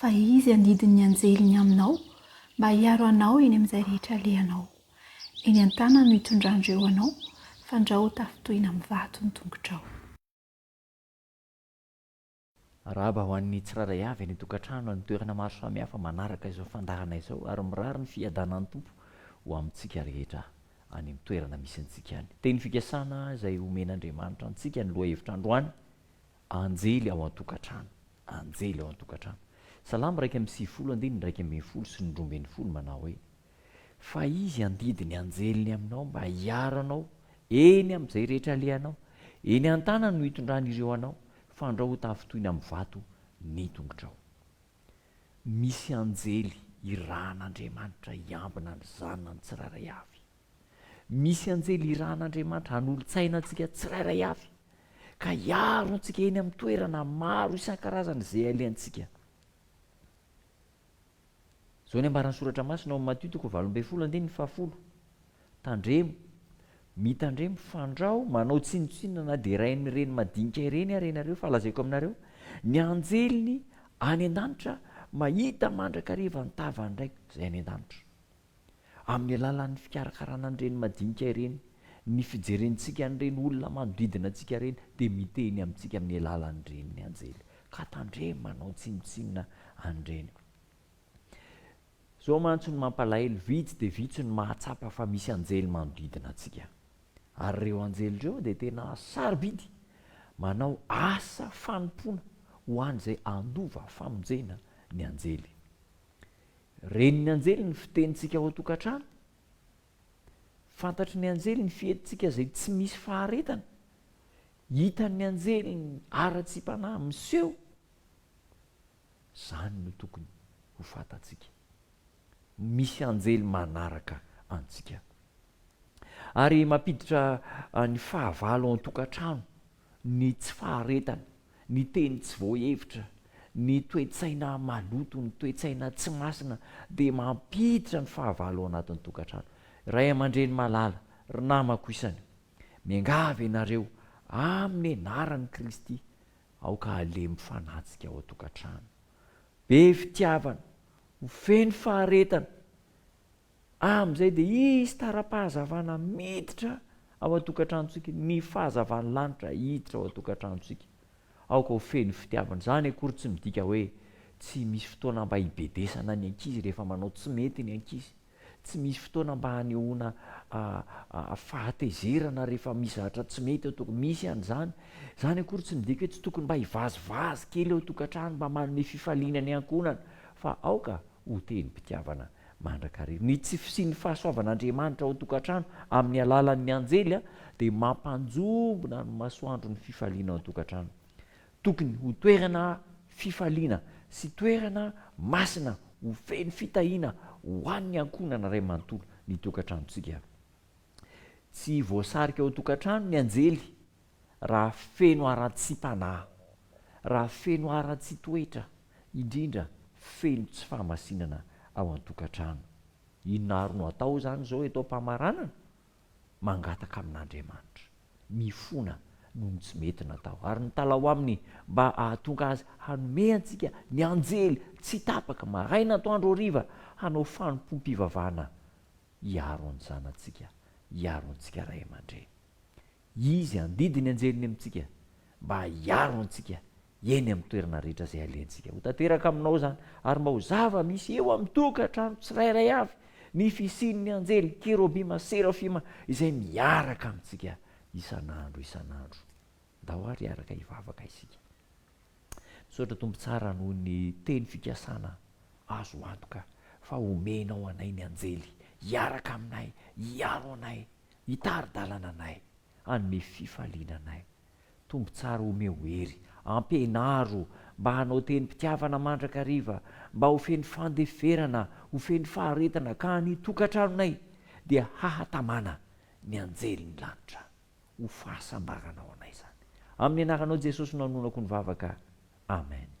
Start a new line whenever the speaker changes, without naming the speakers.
Fa Izy handidy ny anjeliny aminao mba hiaro anao eny amin'izay rehetra alehanao. Eny an-tanany no hitondran-dry eo anao, fandrao ho tafitohina amin'ny vato ny tongotrao.
Arahaba ho an'ny tsirairay avy any an-tokantrano any toerana maro samihafa manaraka izao fandaharana izao ary mirary ny fiadanan'ny Tompo ho amintsika rehetra any amin'ny toerana misy antsika any. Teny fikasana izay omen'Andriamanitra antsika ny lohahevitra androany Anjely ao an-tokantrano. Anjely ao an-tokantrano. Salamo iraika amby sivifolo, andininy iraika ambin'ny folo sy ny roa ambin'ny folo manao hoe, Fa Izy handidy ny anjeliny aminao mba hiaro anao eny amin'izay rehetra alehanao, eny an-tanany no hitondrany ireo anao, fandrao ho tafintohina amin'ny vato ny tongotrao. Misy anjely irahan'Andriamanitra hiambina ny zanany tsirairay avy. Misy anjely irahan'Andriamanitra hanolotsaina antsika tsirairay avy, ka hiaro antsika eny amin'ny toerana maro isan-karazany izay alehantsika. Izao ny ambaran'ny Soratra Masina ao amin'ny Matio toko valo ambin'ny folo andininy fahafolo, Tandremo, mitandremo, fandrao, manao tsinontsinona na dia iray amin'ireny madinika ireny ary ianareo, fa lazaiko aminareo, ny anjeliny any an-danitra mahita mandrakariva ny tavan'ny Raiko izay any an-danitra. Amin'ny alalan'ny fikarakarana an'ireny madinika ireny, ny fijerentsika an'ireny olona manodidina antsika ireny dia miteny amintsika amin'ny alalan'ireny ny anjely ka tandremo manao tsinontsinona an'ireny. Izao mantsy no mampalahelo, vitsy dia vitsy no mahatsapa fa misy anjely manodidina antsika. Ary ireo anjely ireo dia tena sarobidy manao asa fanompoana ho an'izay handova famonjena ny anjely. Ren'ny anjely ny fitenintsika ao an-tokantrano. Fantatry ny anjely ny fihetintsika izay tsy misy faharetana. Hitan'ny anjely ny haratsiam-panahy miseho. Izany no tokony ho fantatsika. Misy anjely manaraka antsika. Ary mampiditra ny fahavalo ao an-tokantrano. ny tsy faharetana, ny teny tsy voahevitra, ny toe-tsaina maloto, ny toe-tsaina tsy masina dia mampiditra ny fahavalo ao anatin'ny tokantrano. Ray aman-dreny malala, ry namako isany, miangavy ianareo amin'ny anaran'i Kristy, aoka halemy fanatsika ao an-tokantrano. Be fitiavana, ho feno faharetana Amin'izay dia hisy tara-pahazavana miditra ao an-tokantranontsika, ny fahazavan'ny lanitra hiditra ao an-tokantranontsika. Aoka ho feno fitiavana. Izany akory tsy midika hoe tsy misy fotoana mba hibedesana ny ankizy rehefa manao tsy mety ny ankizy. Tsy misy fotoana mba hanehoana fahatezerana rehefa misy zavatra tsy mety ao an-tokantrano. Misy an'izany. Izany akory tsy midika hoe tsy tokony mba hivazivazy kely ao an-tokantrano mba manome fifaliana ny ankohonana. Fa aoka ho tenim-pitiavana mandrakariva. Ny tsy fisian'ny fahasoavan'Andriamanitra ao an-tokantrano amin'ny alalan'ny anjely dia mampanjombona ny masoandron'ny fifaliana ao an-tokantrano. Tokony ho toerana fifaliana sy toerana masina ho feno fitahiana ho an'ny ankohonana iray manontolo ny tokantranontsika. Tsy voasarika ao an-tokantrano ny anjely raha feno haratsiam-panahy, raha feno haratsian-toetra, indrindra feno tsy fahamasinana ao an-tokantrano. Inona àry no atao izany izao eto am-pamaranana? Mangataka amin'Andriamanitra. Mifona noho ny tsy mety natao, ary mitalaho aminy mba hahatonga azy hanome antsika ny anjely tsy tapaka, maraina, atoandro, hariva, hanao fanompoam-pivavahana hiaro ny zanatsika, hiaro antsika ray aman-dreny. Izy handidy ny anjeliny amintsika mba hiaro antsika eny amin'ny toerana rehetra izay alehantsika. Ho tanteraka aminao izany, ary mba ho zava-misy eo amin'ny tokantrano tsirairay avy ny fisian'ny anjely, kerobima, serafima izay miaraka amintsika isan'andro isan'andro. Ndao ary hiaraka hivavaka isika. Misaotra Tompo tsara noho ny teny fikasana azo antoka fa omenao anay ny anjely hiaraka aminay, hiaro anay. Hitari-dalana anay, hanome fifaliana anay. Tompo tsara omeo hery, ampianaro mba hanao tenim-pitiavana mandrakariva, mba ho feno fandeferana, ho feno faharetana ka ny tokantranonay dia hahatamana ny anjelin'ny lanitra. Ho fahasambaranao anay izany. Amin'ny anaranao Jesosy no anonako ny vavaka. Amen.